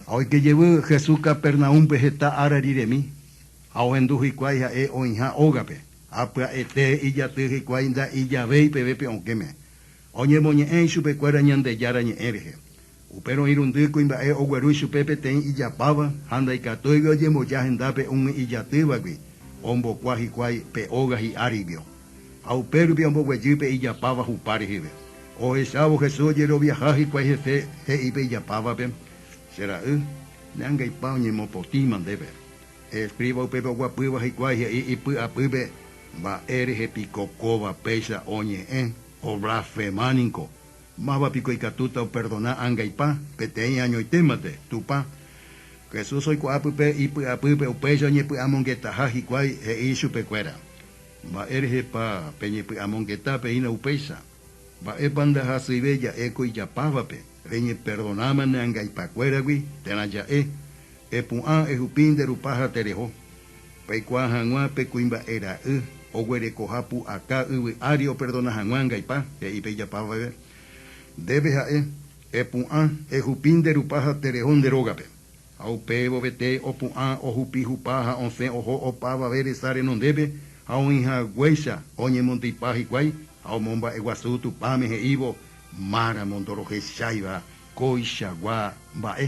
Ha oike jevy Jesús Capernaúmpe heta ára riremi, ha ohendu hikuái ha'e oĩha ógape, ha pya'ete ijaty hikuái nda'i javéi peve pe okẽme, oñemoñe'ẽ ichupekuéra Ñandejára Ñe'ẽ rehe. Upérõ irundy kuimba'e ogueru chupe peteĩ ijapáva ha ndaikatúigui ojemboja hendápe umi ijatývagui ombokua hikuái pe óga hi'áriguio. Ha upérupi omboguejy pe ijapáva hupa reheve. Ohechávo Jesús ojeroviaha hikuái hese, he'i pe ijapávape, Che ra'y, ne angaipa oñemopotĩma ndéve. Escriba upépe oguapýva hikuái he'i ipy'apýpe, Mba'e rehe piko kóva péicha oñe'ẽ, oblasfema ninko! Máva piko ikatúta operdona angaipa, peteĩ añoite mante, Tupã? Jesús oikuaa pype ipy'apýpe upéicha oñepy'amongetaha hikuái, he'i ichupekuéra, Mba'e rehepa peñepy'amongeta peĩrõ upéicha? Mba'épa ndahasyive ja'e ko ijapávape? Reñeperdonáma ne angaipakuéragui térã ja'e, epu'ã, ehupi, nde rupa ha tereho. Peikuaa hag̃ua pe kuimba'e ra'y oguerekoha pu'aka yvy ári operdona hag̃ua angaipa, he'i pe ijapávave ndéve ja'e, epu'ã, ehupi, nde rupa ha tereho nde rógape. Ha upévo vete opu'ã ohupi hupa ha osẽ oho opavave resa renondépe ha oĩhaguéicha oñemondypa hikuái ha omomba'eguasu Tupãme he'ívo máramo ndorohecháiva kóichagua mba'e.